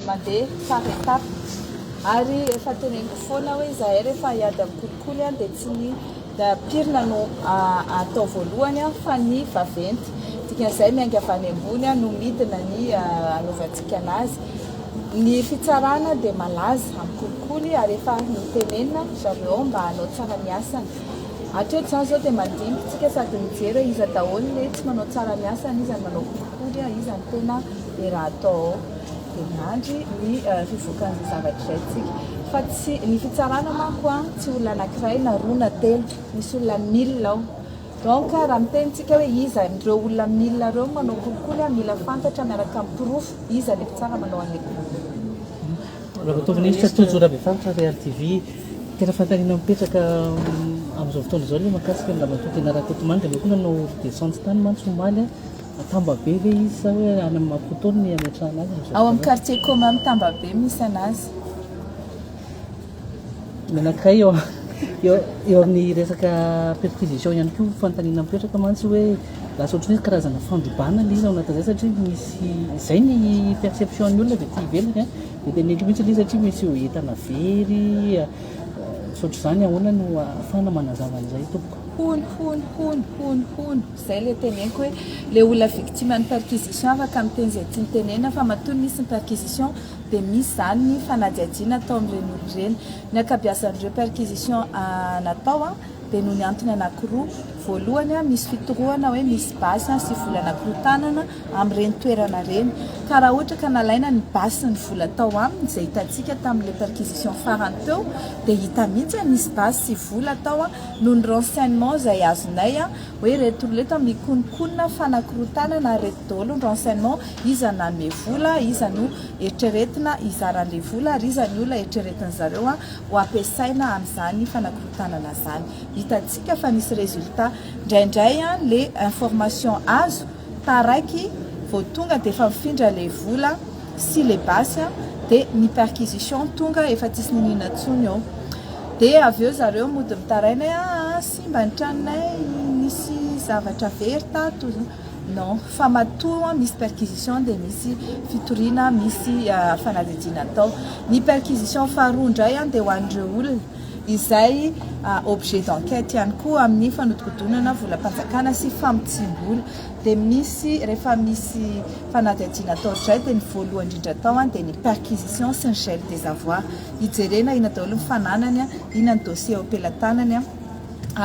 Mandeha par étape. Ary efa teneniko foana hoe izahay rehefa hiady amin'ny kolikoly dia tsy ny pirina no atao voalohany fa ny vaventy. Dikan'izay miainga avy any ambony no midina ny hanaovantsika anazy. Ny fitsarana dia malaza amin'ny kolikoly ary efa notenenina ry zareo mba hanao tsara ny asany. Hatreto izany izao dia mandiniky isika sady mijery hoe iza daholo ny tsy manao tsara ny asany, iza no manao kolikoly, iza no tena. dia raha atao ao dia miandry ny fivoakan'izay zavatra izay isika fa tsy ny fitsarana manko an tsy olona anankiray na roa na telo misy olona mille ao donc raha miteny tsika hoe iza ireo olona mille ireo manao kolikoly an mila fantatra miaraka amin'ny porofo iza ny mpitsara manao an'ilay kolikoly Ramatovy Minisitra Tojo Rabefaritra Real TV tena fantanina mipetraka amin'izao fotoana izao le makasika ny Ramatoa Tena Rakotomanga le koa nanao descente tany mantsy omaly Tambabe ve izy sa hoe any amin'ny maha fotoana no hiametrahana azy amin'izao fotoana izao? Ao amin'ny quartier commun am Tambabe misy anazy. Menakay eo eo amin'ny resaka perquisition ihany koa fanontaniana mipetraka mantsy hoe lasa ohatran'ny hoe karazana fandrobana ilay izy ao anatin'izay satria misy izay ny perception ny olona dia aty ivelany a dia tena hendry mihitsy ilay izy satria misy entana very misaotra izany ahoana no ahafahana manazava an'izay tompoko. Hono hono hono hono hono zay le teneniko hoe le olona victime ny perquisition afaka miteny zay tiany tenenina fa matoa nisy ny perquisition de misy zany ny fanadihadiana atao amin'ireny olona ireny ny ankabiazan'ireo perquisition natao a de noho ny antony anakiroa voalohany a misy fitorohana hoe misy basy a sy vola nakorotanana amin'ireny toerana ireny ka raha ohatra ka nalaina ny basy sy ny vola tao aminy zay hitantsika tamin'le perquisition farany teo de hita mihitsy a nisy basy sy vola tao a noho ny renseignements izay azonay hoe ireto ireto mikononkonona fanakorontanana ary ireto daholo ny renseignements iza no nanome vola, iza no eritreretina hizara an'ilay vola ary iza ny olona eritreretin'ny zareo ho ampiasaina amin'izany fanakorontanana izany. Hitantsika fa nisy résultats. Indraindray ilay information azo Taraiky vao tonga dia efa mifindra le vola sy le basy a! de ny perquisition tonga efa tsisy niniana tsony ô! de avy eo zareo mody mitaraina hoe aa simba ny tranonay nisy zavatra very tato non! fa matoa misy perquisition dia misy fitoriana misy fanadihadiana atao! ny perquisition faharoa indray a dia ho an'ireo olona izay objet d'enquête ihany koa amin'ny fanodikodinana volam-panjakana sy famotsiam-bola dia misy rehefa misy fanadihadiana atao dray dia ny voalohany indrindra atao an dia ny perquisition sy ny gel des avoirs hijerena inona daholo ny fananany an inona ny dossier eo am-pelatanany an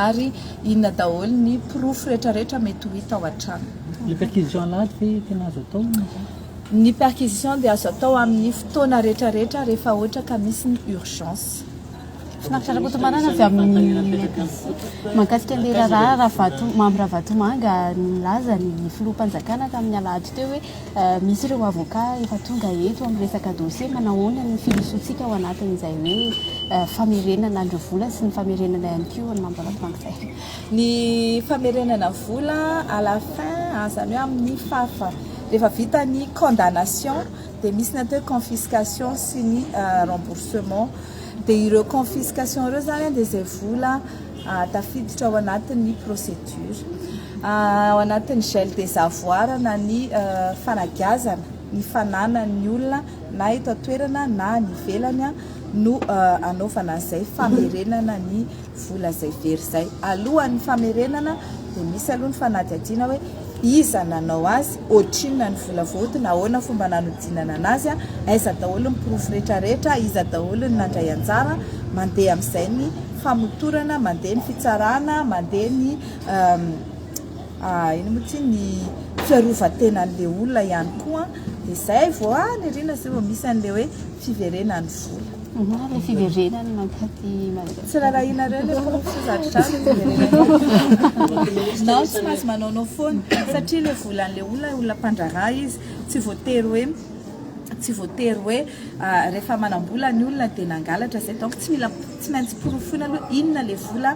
ary inona daholo ny porofo rehetra rehetra mety ho hita ao an-trano ny perquisition alahady ve tena azo atao? Ny perquisition dia azo atao amin'ny fotoana rehetra rehetra rehefa ohatra ka misy ny urgence. Finaritra Rakotomanana avy amin'ny IPC mahakasika an'ilay raharaha Ravato, Mamy Ravatomanga nilaza ny filoham-panjakana tamin'ny alahady teo hoe misy ireo avoka efa tonga eto amin'ny resaka dossier, manahoana ny firosoantsika ao anatin'izay hoe famerenana an'ireo vola sy ny famerenana ihany koa an'i Mamy Ravatomanga izay. ny famerenana vola à la fin a zany hoe amin'ny fafa rehefa vita ny condamnation dia misy ny atao hoe confiscation sy ny remboursement dia ireo confiscation ireo zany dia izay vola tafiditra ao anatin'ny procédure ao anatin'ny gel des avoirs na ny fanagiazana ny fananan'ny olona na eto an-toerana na any ivelany no anaovana izay famerenana ny vola izay very izay alohan'ny famerenana dia misy aloha ny fanadihadiana hoe iza nanao azy, ohatrinona ny vola voaotiny, ahoana fomba nanodinana anazy, aiza daholo ny porofo retraretra, iza daholo ny nandray anjara, mandeha amin'izay ny famotorana, mandeha ny fitsarana, mandeha ny ino moa ity ny fiarovan-tenan'ilay olona ihany koa, dia izay vao any aoriana izay vao misy an'ilay hoe fiverenan'ny vola. Ilay fiverenany mankatỳ Madagasikara. Tsy rarahianareo ilay porofo sy zaridrano no fiverenany. Non, tsy maintsy manaonao foana satria ilay volan'ilay olona, olona mpandraharaha izy, tsy voatery hoe, tsy voatery hoe rehefa manam-bola ny olona dia nangalatra izay. Donc tsy mila, tsy maintsy porofoina aloha inona ilay vola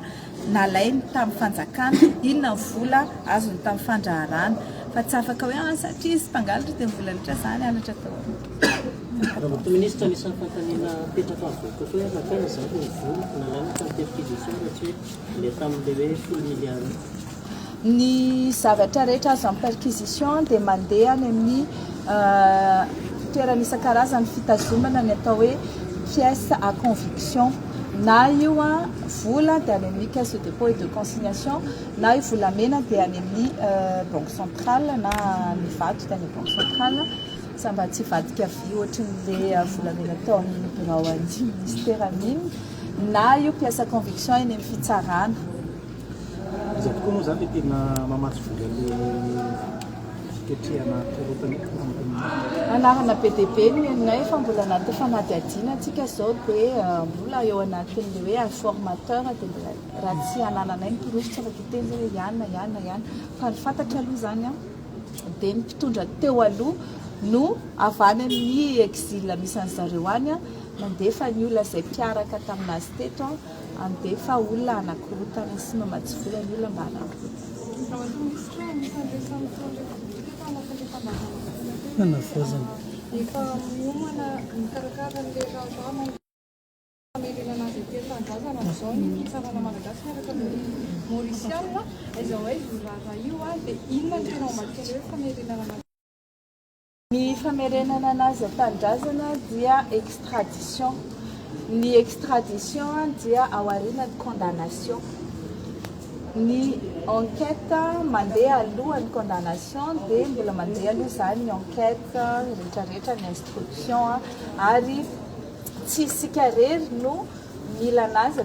nalainy tamin'ny fanjakana, inona ny vola azony tamin'ny fandraharahana. Fa tsy afaka hoe, ah satria izy mpangalatra dia ny vola rehetra izany halatra daholo. Ny zavatra rehetra azo amin'ny perquisition dia mandeha any amin'ny toerana isan-karazany fitazomana ny atao hoe pièces à conviction, na io vola dia any amin'ny caisse de dépôt et de consignation, na io volamena dia any amin'ny banque centrale na ny vato dia any amin'ny banque centrale. Za mba tsy hivadika vy ohatry ny le volamena ataon'ny birao an'ny minisitera mino na io mpiasa conviction eny amin'ny fitsarana. Iza tokoa moa izany le tena mamatsy vola le fiketrehana korontana io tompoko matoa. Anarana be dia be ny nenonay fa mbola anaty fanadihadiana tsika izao dia mbola eo anatin'ny le hoe informateur dia mbola raha tsy anananay ny porofo tsy afaka hiteny hoe iana iana iana fa ny fantatra aloha izany an. dia ny mpitondra teo aloha no avy any amin'ny exil misy an'i zareo any nandefa ny olona izay mpiaraka tamin'azy teto handefa olona hanakorontana sy mamatsy vola ny olona mba hanakorontana Famerenana azy aty an-tanindrazana amin'izao ny fitsarana malagasy miaraka amin'ny Maorisiana. Aiza ho aiza io raharaha io ary dia inona no tena ao ambadiky an'ilay hoe famerenana an'azy. Ny famerenana an'azy an-tanindrazana dia extradition. Ny extradition dia ao aorianan'ny condamnation. Ny enquête mandeha alohan'ny condamnation dia mbola mandeha aloha izany ny enquête rehetrarehetra, ny instruction ary Tsy isika irery no mila anazy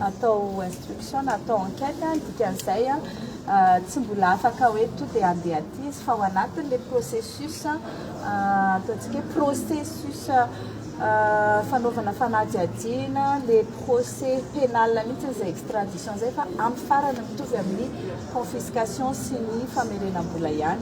atao instruction na atao enquête, ny dikan'izay tsy mbola afaka hoe to dia handeha aty izy fa ao anatin'ilay processus ataontsika hoe processus fanaovana fanadihadiana, ilay procès pénal mihitsy izay extradition izay fa amin'ny farany mitovy amin'ny confiscation sy ny famerenam-bola ihany.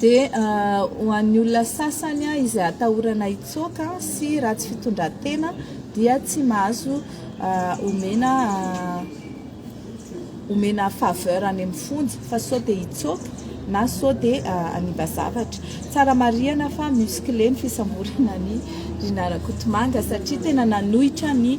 Dia ho an'ny olona sasany izay atahorana hitsoaka sy ratsy fitondran-tena dia tsy mahazo omena omena faveur any amin'ny fonja fa sao dia hitsoaka na sao dia hanimba zavatra. Tsara marihana fa musclé ny fisamborana an'i Rinah Rakotomanga satria tena nanohitra ny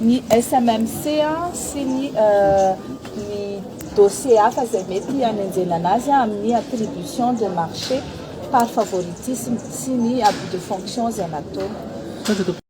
ny SMMC sy ny ny dossier hafa izay mety hanenjehana azy amin'ny attribution de marché par favoritisme sy ny abus de fonction izay nataony.